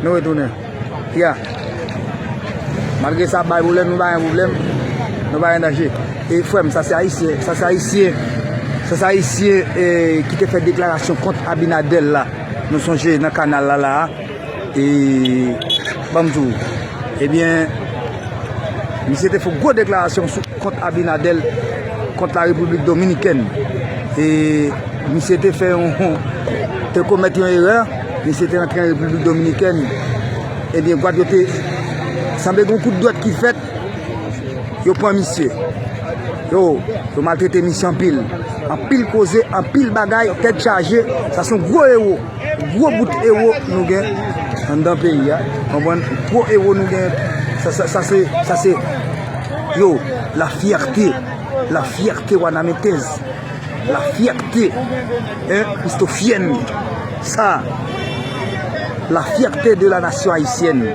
Nou retounen. Kia. Malgre sa bay boulem nou bayen boulem. Nou bayen danje. E fwem sa se ayisye. Sa se ayisye. Sa se ayisye ki te fe deklarasyon kont abinadel la. Nou sonje nan kanal la la. E banm tou. Ebyen. Misye te fok gwo deklarasyon sou. Kont Abinadel kont la Repiblik Dominikèn. E misye te fè yon, te komèt yon erè, misye te rantre an Repiblik Dominikèn, ebyen gwad yo te, sanble gen yon kout dwèt ki fèt, yo pran misye. Yo, yo maltrete misye anpil. Anpil koze, anpil bagay, tèt chaje, sa son gwo ewo, gwo bout ewo nou gen anndan peyi a. Konprann? Gwo ewo nou gen, sa se, sa se. Yo, la fierté, la fierté wanamentèz, la fierté eh christophienne sa, la fierté de la nation haïtienne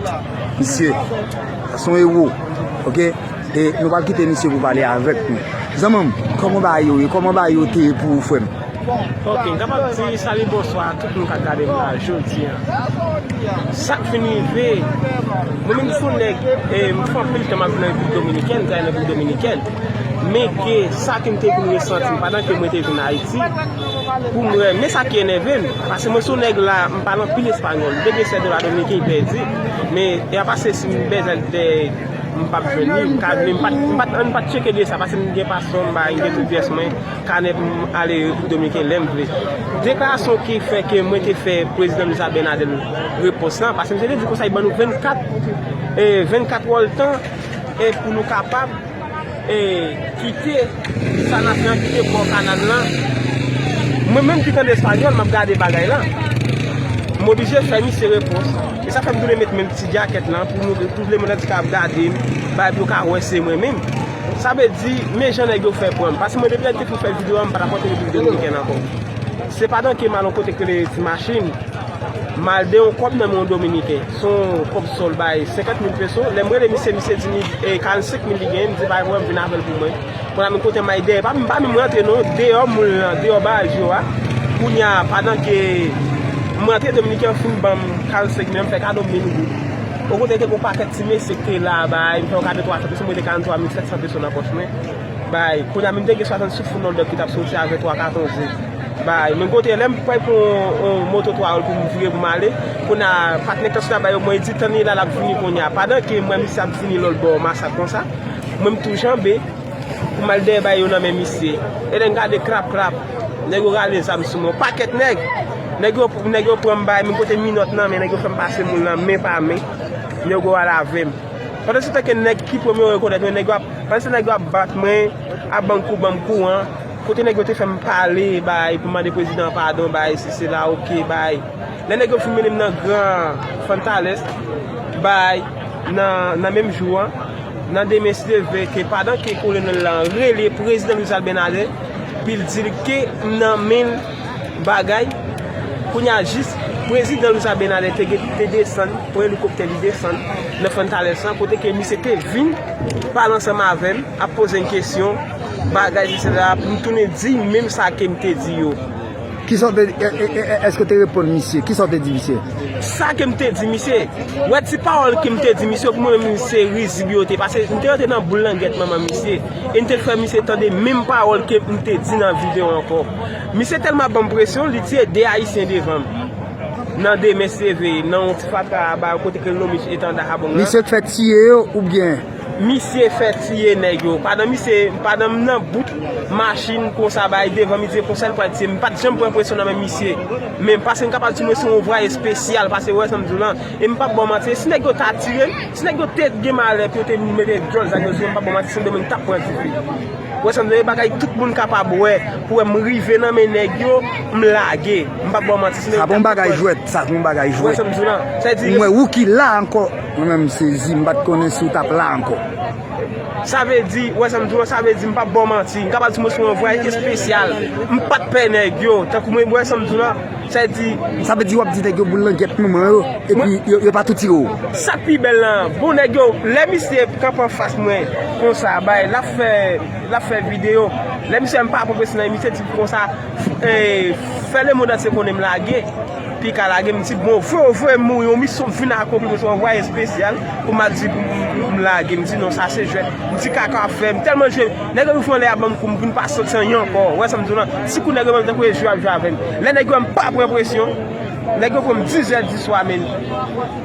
misye sa son héros ok e nou pap kite misye pou pale avèk nou zanmanm kòman bagay yo ye kòman bagay yo te ye pou ou frèm. Ok, m kapab di salut bonswa a tout moun kap gade m la jodi an. Sak fin rive, mwen menm sou nèg, m fè anpil tan m ap viv nan Repiblik Dominikèn, m travay nan Repiblik Dominikèn, men ke sa ke m te vin resanti pandan ke mwen te vin Ayiti, pou m wè, men sa ki enève m, paske mwen sou nèg la, m pale anpil espanyòl, m te gen sèl dola dominiken m pèdi, men y a pase si m bezwen l dè, m pap jwenn li, m ka vini, m pat, m pat, an m pat tcheke de sa, paske m gen paspò m bay, m gen tout pyès mwen. Kanè pou m ale Repiblik Dominiken lè m vle. Deklarasyon ki fè ke mwen te fè Prezidan Luis Abinader repons la, paske misye te di konsa li ban nou 24, 24 wòl tan pou nou kapab kite sa n ap fè an, kite bò kanal la. Mwen menm ki tande espanyòl, m ap gade bagay la, m oblije fè misye repons. E sa fè m tounen met menm ti djakèt la pou m ouvri, pou vle moun an di ka ap gade m, bay pou yo ka wè se mwen menm. Sa vle di men jan nèg yo fè pranm. Pase mwen depi lè te fin fè video a m pata pòte repiblik dominikèn ankò. Se pa dan kemal yon kote k rele ti machin mal de yon kòb nan men yon dominiken. Se yon kòb sòl bay 50 mil peso. Lè m rele misye misye di m 45 mil li genyen m di pa gen pwoblèm vin avèl pou mwen. Konnya m kote may dèyè pa m pa menm rantre non deyò moun lan deyò baz yo a. Kounya padan ke m rantre dominiken an fin banm 45 mil an m fè kado mil goud. O kote te gen yon pakèt ti mesye ki te la bay, m fè yon kado 300 peso, m rete 43 mil 700 peso nan pòch mwen, bay. Kounye a menm te gen 60 sou foul nan dòk ki t ap soti avè 3 katon ze, bay. Men kote lè m pral pran yon moto 3 wòl pou m vire pou m ale, kounye a patnè taksi la ba yo, mwen li di tann li la l ap vini kounye a. Pandan ke m wè misye ap vini lòtbò Masak konsa, mwen m tou janbe pou m al dèyè bay yo nan men misye. E lè n gade krap krap. Nèg yo rale zam sou mwen. Yon pakèt nèg. Nèg yo pran m bay m. M pote minòt nan men. Nèg yo fè m pase moun nan men pa men. Nèg yo al avè m. Pandan se tan ke nèg ki premye yo rekonèt mwen. Nèg yo ap. Pandan se tan nèg yo ap bat mwen. Ap ban m kou ban m kou an. Kote nèg yo te fè m pale bay. Pou m mande prezidan an padon bay. Si se la ok bay. Lè nèg yo fin mennen m nan gran Fantalès bay. Nan menm jou an, nan demen se leve ke padan ke kolonèl la rele prezidan Luis Abinader pou l di l ke m nan men l bagay, kounye a jis prezidan Luis Abinader te desann, pran elikoptè li desann nan Fortaleza sa kote ke misye te vin pale ansanm avè m, ap poze m kesyon, bagay sisi la, pou m tounen di menm sa ke m te di yo. Kisa w te di? Èske w te reponn misye? Kisa w te di misye? Sa ke m te di misye? Wè ti pawòl ke m te di misye yo pou mwen menm se rizib yo te. Pase m te rantre nan boul langèt manman misye. E m te fè misye tande menm pawòl ke m te di nan video ankò. Misye tèlman ban m presyon, li tiye 2 ayisyen devan m. Nan demen se veye, nan yon ti fatra a ba yo kote ke l lonmen etanda a bon gran. Misye te fè tiye yo oubyen? Misye fè tiye nèg yo. Padan misye, padan m nan bout machin konsa bay devan misye konsa li pral tiye m. M pat janm pran presyon nan men misye. Men pase m kapab di mwen se yon vwa espesyal pase ou wè sa m di w lan. E m pap ba w manti si nèg yo ta tire m, si nèg yo te gen malè pou yo te vin mete dyòl zam yo sou mwen m pap ba w manti sendomeng m tap pran dife. Ou wè sa m di w lan e bagay tout moun kapab wè pou wè m rive nan men nèg yo m lage. M pap ba w manti sendomeng m tap pran dife. Sa pa yon bagay jwèt, sa pa yon bagay jwèt. Ou wè sa m di w lan. Sa vle di. M wè ou ki la ankò. Mwen menm m sezi, m pat konnen si w tap la ankò. Sa vle di, wè sa m di w lan, sa vle di m pap ba w manti, m kapab di mwen se yon vwayaj espesyal, m pat pè nèg yo, tankou mwen wè sa m di w lan, sa vle di. Sa vle di wap di nèg yo boule langèt nou mwen yo, epi yo pa tou tire w. Sak pi bèl la, bon nèg yo, lè misye ap kanpe anfas mwen konsa bay, lap fè, lap fè videyo, lè misye wè m pa pwofesyonèl, misye di m konsa, fè lemond antye konnen m lage. Pika lage m di bon vre vre m yon misyon m vin akonpli m se yon anvwaye espesyal pou m al di pou m lage m di non sa se jwèt m di kaka ap fè m tèlman jwe nèg yo vin fon lè ap ban m kou m vin pa santi anyen ankò ou wè sa m di w la ti kou nèg yo ban m tankou e jwe ap jwe avè m lè nèg yo wè m pa pran presyon nèg yo fon m dizè diswa men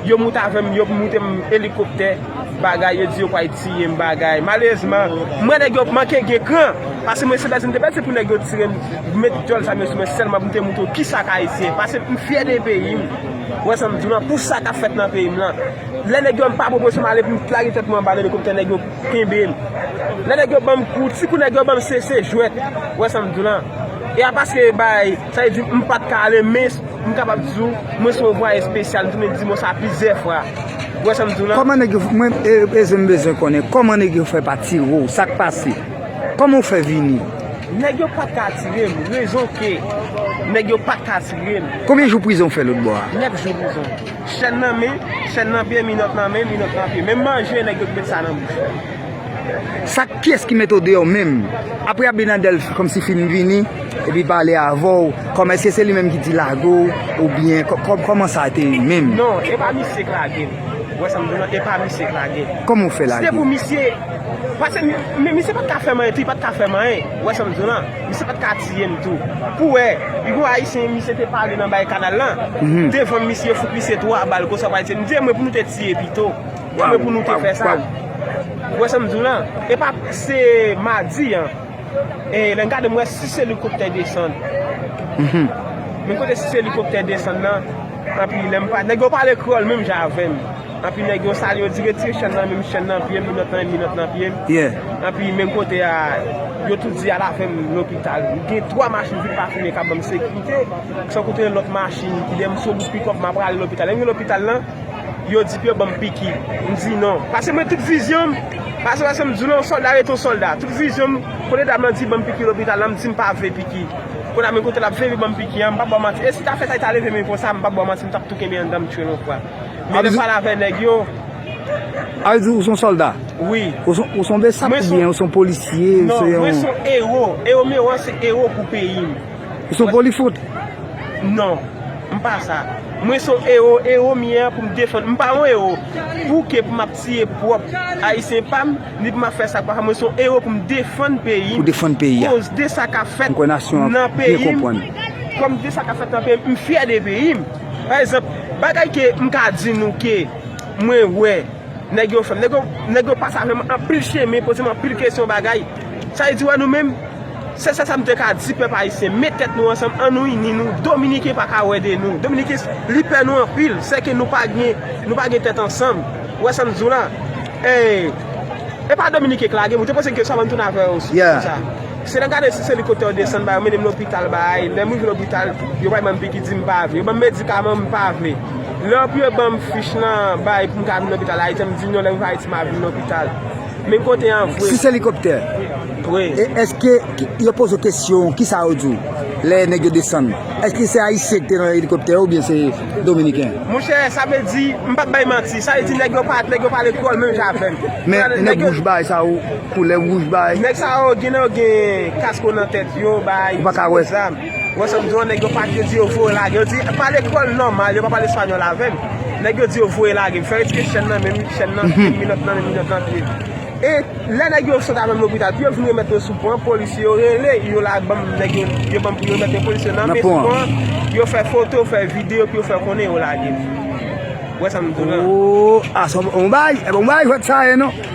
yo moute avè m yo moute m elikoptè. Bagay yo di yo pwal tiyem bagay malerezman mwen nèg yo manke gen kran pase mwen se pèdi m te pèdi se pou nèg yo tirem met dyòl zam yo sou mwen sèlman pou m te moutre yo kisa k ayisyen pase m fyè de peyi m ou wè sa m di w lan pou sa k ap fèt nan peyi m lan lè nèg yo m pa pwopoze m ale pou m lage tèt mwen anba nan elikoptè nèg yo kenbe m lè nèg yo banm kou ti kou nèg yo banm se se jwèt ou wè sa m di w lan e a paske bay sa vle di m pat ka ale men M kapab di w, mwen se yon vwaye spesyal, m tounen di mo sa plizyè fwa. Ou wè sa m di w la? Kòman nèg yo fè, mwen Eze m bezwen konnen kòman nèg yo fè pa tire w, sa k pase? Kòman ou fè vini? Nèg yo pat ka tire m, rezon ke nèg yo pat ka tire m. Konbyen jou prizon ou fè lòt bò a? 9 jou prizon. Chèn nan men, chèn nan pye, minòt nan men, minòt nan pye. Menm manje nèg yo t met sa nan bouch. Sak pyès ki mete w deyò menm. Apre abinadèl kòmsi fin vini epi pale avèw kòman eske se li menm ki di lago ou byen kòman sa te ye menm. Non epa misye k lage m. Ou wè sa m di w lan epa misye k lage m. Kòman ou fè lage l. Se pou misye pase men misye pat ka fè m anyen tou li pat ka fè m anyen ou wè sa m di w lan misye pat ka tiye m tou pou wè li gon ayisyen misye te pale nan bay kanal lan devan m misye fout misye 3 bal konsa pou ayisyen m di e mwen pou nou te tiye pito. Kòman pou nou te fè sa? Ou wè sa m di w la? E pa se madi an. E lè m gade m wè 6 elikoptè desann. Men kote 6 elikoptè desann nan, anpi lè m pa, nèg yo pale kreyòl menm jan avè m. Anpi nèg yo salye yo di retire chèn nan men m, chèn nan pye m, minòt nan, minòt nan pye m. Anpi menm kote a, yo tout di al avè m lopital. Gen 3 machin vit pafine k ap ban m sekirite. San konte lòt machin ki dèyè m sou wout pikòp m apral lopital. Lè m rive lopital la. Yo di pye banm piki, m di non. Pase mwen tout vizyon m, pase pase m di w non yon sòlda rete yon sòlda. Tout vizyon m, kote dam lan di banm piki lopital la m di m pa vle piki. Kounye a men kote l ap veye banm piki an, m pa ba w manti. E si ta fè sa li ta leve men konsa, m pa ba w manti m t ap tou kenbe anndan m tchwel yon fwa. Men lè m pale avè nèg yo. A vle di ou s on sòlda? Wi. Ou s on besap oubyen ou s on polisye? Non, mwen s on ewo. Ewo m ewo an se ewo pou peyi m. Ou son polifout? Non, m pa sa. Mwen son ewo, ewo m ye a pou m defann. M pa yon ewo pou ke pou m ap tiye pwòp Ayisyen pa m, ni pou m ap fè sa k pa sa. Mwen son ewo pou m defann peyi m, koz de sa k ap fèt nan peyi m. Kòm de sa k ap fèt nan peyi m, m fyè de peyi m. Pa egzanp, bagay ke m ka di nou ke mwen wè nèg yo fè. Nèg yo pase avè m anpil chemen, poze m anpil kesyon bagay. Sa vle di wè nou menm. Sèl sa sam te ka di pèp ayisyen met tèt nou ansanm an nou ini nou dominiken pa ka wè de nou dominiken li pè nou anpil sèke nou pa gen nou pa gen tèt ansanm ou wè sam di w la e pa dominiken k lage m ou te poze m kesyon avan m tounen avè w sou sa se nan gade si se li kote w desann bay yo mennen m lopital bay lè m rive lopital yo bay m anpi ki di m pa vle yo ban m medikaman m pa vle lè anpi yo ban m fich lan bay pou m ka vin lopital ayiti m di n yo lè m rive ayiti m ap vin lopital. Men kote an vre. Si se elikoptè. Vre. E eske yo poze w kesyon kisa yo di w lè nèg yo desann? Eske se ayisyen ki te nan elikoptè yo oubyen se dominiken? Monchè sa vle di, m pap bay manti, sa vle di nèg yo pat, nèg yo pale kreyòl menm jan avè m. Men nèg wouj bay sa yo, koulè wouj bay. Nèg sa yo gen nan yo gen kasko nan tèt yo bay. Ou pa ka wè. Ou wè sa m di w an, nèg yo pa kredi yo voye lage. Yo di, pale kreyòl nòmal, yo pa pale espanyòl avè m. Nèg yo di yo voye lage m, fè retire chèn nan men m, chèn nan, minòt nan men m, minòt nan pye m. E lè nèg yo sot avè m lopital, pou yo vin remèt mwen sou pon an, polisye yo rele, yo la ban m, nèg yo, yo ban m pou yo remèt mwen polisye yo nan men sou pon an, yo fè foto, fè videyo pou yo fè konnen yo lage m. Ou wè sa m di w lan? Oo, a sa w, on bagay, e bon bagay jwèt sa ye non.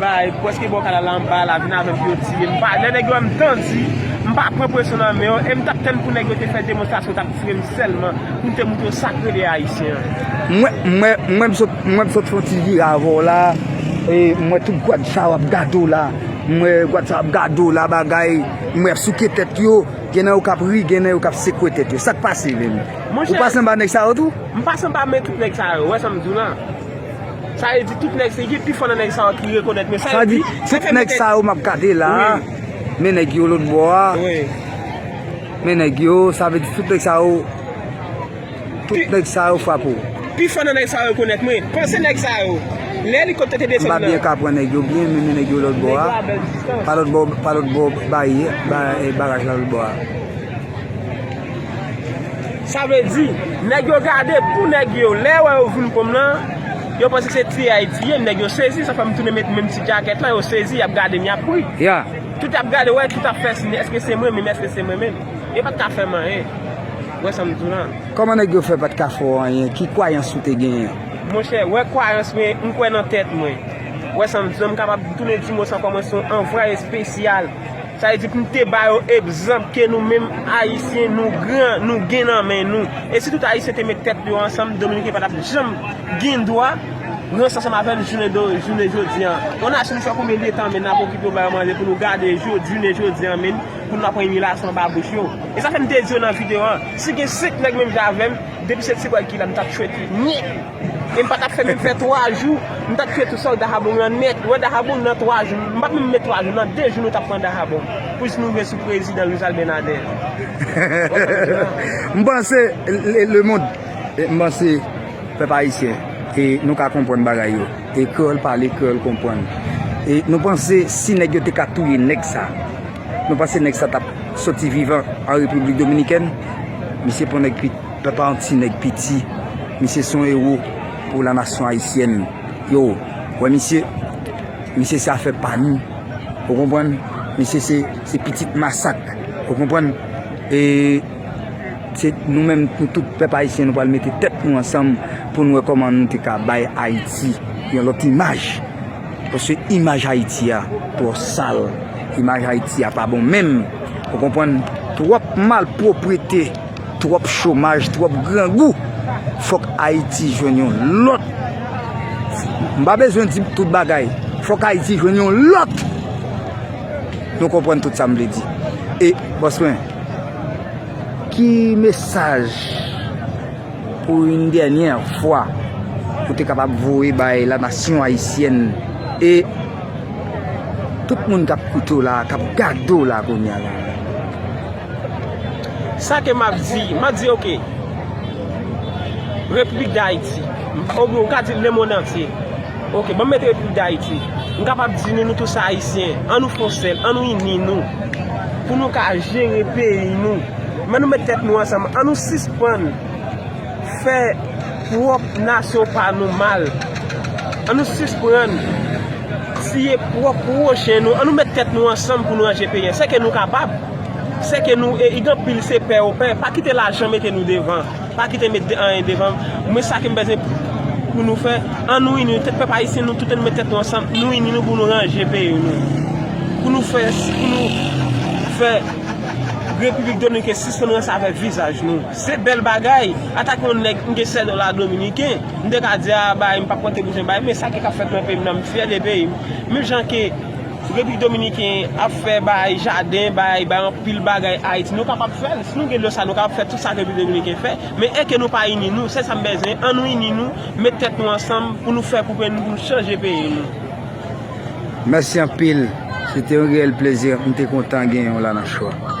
Bay preske bò kanal la anba la vin avèm pou yo tire m pa lè nèg yo wèm m tandi m pa pran presyon nan men yo e m tap tann pou nèg yo te fè demonstrasyon tap tire m sèlman pou m te moutre sak rele ayisyen an. Mwen m sot mwen m sot fon ti vire avè w la e m wè tout gwad sa w ap gade w la m wè gwad sa w ap gade w la bagay m wè y ap souke tèt yo gen nan yo k ap ri gen nan yo k ap sekwe tèt yo sak pase menm ou pase anba nèg sa yo tou? M pase anba men tout nèg sa yo ou wè sa m di w la. Sa vle di tout nèg se gen pifò nan nèg sa yo ki rekonèt men sa yo di Sa vle di tout nèg sa yo map gade la men nèg yo lòt bò a men nèg yo sa vle di tout nèg sa yo tout nèg sa yo frape w Pifò nan nèg sa yo rekonèt mwen Panse nèg sa yo lè elikoptè te desann nan M pa byen kapran nèg yo byen men nèg yo lòt bò a pa lòt bò pa lòt bò barye baraj la lòt bò a. Sa vle di, nèg yo gade pou nèg yo, lè yo wè yo vin kòm lan, yo panse se tiye Ayiti ye, nèg yo sezi, sa fè m tounen met menm ti djakèt lan, yo sezi, y ap gade m, y ap ri. Tout y ap gade, wè, tout ap fè siy, èske se mwen menm, èske se mwen menm? Yo pa t ka fè m anyen. Ou wè sa m di w lan? Kòman nèg yo fè pa t ka fè w anyen? Ki kwayans ou te genyen? Monchè, wè kwayans mwen, m kwè nan tèt mwen. Ou wè sa m di w lan? M kapab tounen di m ou sa ankò, mwen se yon anvwaye espesyal. Sa vle di pou nou te ba yo egzanp ke nou menm Ayisyen nou gran, nou gen nan men nou. E si tout Ayisyen te met tèt yo ansanm, Dominiken pa t ap janm gen dwa ranse ansanm avè n jounen jodi an. Yon nasyon ki fè konbyen de tan menm n ap okipe yo ba yo manje pou nou gade jounen jodi an menm pou nou ap pran imilasyon anba bouch yo. E sa fè m te di yo nan videyo an, si gen 5 nèg menm jan avè m, depi se ti bwa ki la m t ap tchwete nèt. E m pa t ap fè menm fè twa jou, m ta touye tout sòlda Habong lan nèt. Wè Dahabong nan twa jou, m pa t menm met twa jou, nan de jou nou t ap pran Dahabong, pou jis nou rive sou prezidan Luis Abinader. M panse lemond, m panse pèp ayisyen, e nou ka konprann bagay yo, e kreyòl pale, kreyòl konprann. E nou panse si nèg yo te ka touye nèg sa, nou panse nèg sa t ap soti vivan an Repiblik Dominikèn? Misye pon nèg kwit. Pèp a yon ti nèg piti. Misye son ewo pou la nasyon ayisyèn. Yo wè misye. Misye se afè pa nou. Ou konprann? Misye se pitit masak. Ou konprann? E se nou menm nou tout pèp ayisyen nou pral mete tèt nou ansanm pou nou wè kòman nou te ka bay Ayiti yon lòt imaj. Paske imaj Ayiti a twò sal. Imaj Ayiti a pa bon menm. Ou konprann? Twòp malpwoprete. Twòp chomaj, twòp grangou. Fòk Ayiti jwenn yon lòt. M pa bezwen di tout bagay. Fòk Ayiti jwenn yon lòt. Nou konprann tout sa m vle di. E, bòs mwen, ki mesaj pou yon dènyè fwa ou te kapab voye bay la nasyon ayisyèn e tout moun k ap koute w la, k ap gade w la kounya la? Sa ke map di, map di ok, Repiblik Dayiti, oubyen ou ka di lemond antye, ok, banm mete Repiblik Dayiti, m kapab di nou, nou tous Ayisyen, an nou fon sèl, an nou ini nou, pou nou ka jere peyi nou, men nou met tèt nou ansanm, an nou sispann. fè prop nasyon pa nou mal an nou sisprann tiye prop pwochen nou an nou met tèt nou ansanm pou nou ranje peyi an sè ke nou kapab sè ke nou e gen anpil se pè yo pè pa kite lajan mete nou devan pa kite met de anyen devan mwen sa kem bezwen pou nou fè an nou ini tout pèp ayisyen nou tout an nou met tèt nou ansanm nou ini nou pou nou ranje peyi nou pou nou fè pou nou fè repiblik dominiken sispann ranse avèk vizaj nou. Se bèl bagay, antanke yon nèg m gen 7 dola dominiken, m te ka di a bay, m pap konte bouzen bay, men sa ki kap fèt nan peyi m nan, m fyè de peyi m. Menm jan ke Repiblik Dominiken ap fè bay jaden, bay bay anpil bagay Ayiti, nou kapab fè l. Si nou gen dlo sa nou kapab fè tout sa Repiblik Dominiken fè, men èke nou pa ini nou, sèl sa m bèzwen, an nou ini nou, met tèt nou ansanm pou nou fè pou peyi nou, pou nou chanje peyi nou. Mèsi anpil, se te yon reyèl plezi, m te kontan genyen w la nan show a.